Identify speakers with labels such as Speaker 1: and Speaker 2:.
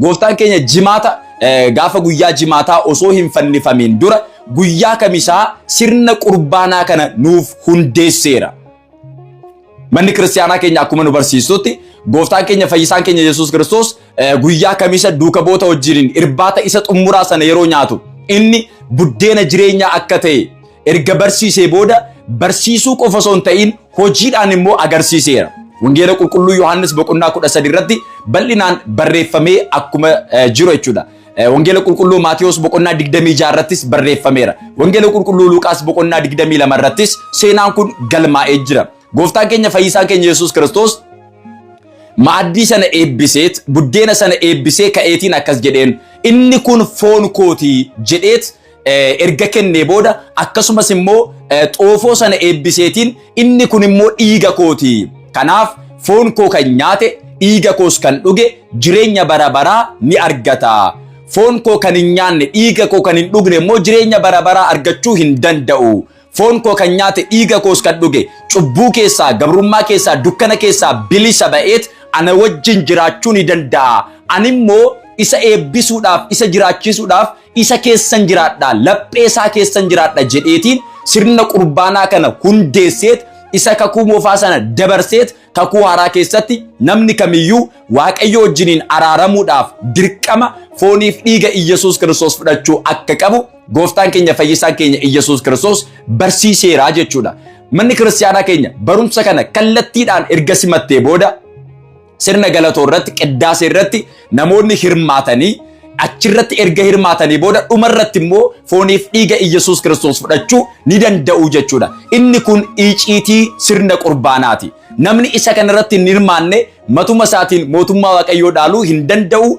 Speaker 1: Gooftaan keenya jimaata gaafa guyyaa jimaataa osoo hin fannifamiin dura guyyaa kamisaa sirna qurbaanaa kana nuuf hundeesseera. Manni kiristaanaa keenya akkuma nu barsiistutti gooftaan keenya fayyisaan keenya Yesuus Kiristoos guyyaa kamisa duuka boota wajjiniin irbaata isa xumuraa sana yeroo nyaatu inni buddeena jireenyaa akka ta'e Erga barsiisee booda barsiisuu qofa osoo hin ta'in hojiidhaan immoo agarsiiseera. Wangeela qulqulluu Yohaannis boqonnaa 13 irratti bal'inaan barreeffamee akkuma eh, jiru jechuudha. Eh, Wangeela qulqulluu Maatiyos boqonnaa 26 irrattis barreeffameera. Wangeela qulqulluu Luqaas boqonnaa 22 irrattis seenaan kun galmaa'ee jira. Gooftaan keenya fayyisaan keenya Yesuus Kiristoos maaddii sana eebbiseet buddeena sana eebbisee ka'eetiin akkas jedheen inni kun foon kootii jedheet erga kennee booda akkasumas immoo xoofoo sana eebbiseetiin inni kun immoo dhiiga kooti. Kanaaf foon koo kan nyaate dhiiga koos kan dhuge jireenya bara baraa ni argata. Foon koo kan hin nyaanne dhiiga koo kan hin dhugne immoo jireenya bara baraa argachuu hin danda'u. Foon koo kan nyaate dhiiga koos kan dhuge cubbuu keessaa gabrummaa keessaa dukkana keessaa bilisa ba'eet ana wajjin jiraachuu ni danda'a. Ani immoo isa eebbisuudhaaf isa jiraachisuudhaaf isa keessan jiraadha laphee isaa keessan jiraadha jedheetiin sirna qurbaanaa kana hundeesseet isa kakuu moofaa sana dabarseet kakuu haaraa keessatti namni kamiyyuu waaqayyo wajjiniin araaramuudhaaf dirqama fooniif dhiiga Iyyasuus Kiristoos fudhachuu akka qabu gooftaan keenya fayyisaan keenya Iyyasuus Kiristoos barsiiseeraa jechuudha. Manni kiristaanaa keenya barumsa kana kallattiidhaan erga simattee booda Sirna galatoo irratti qiddaasee irratti namoonni hirmaatanii achirratti erga hirmaatanii booda dhuma irratti immoo fooniif dhiiga Iyyasuus Kiristoos fudhachuu ni danda'u jechuudha. Inni kun iciitii sirna qurbaanaati. Namni isa kanarratti hin hirmaanne matuma isaatiin mootummaa Waaqayyoo dhaaluu hin danda'u.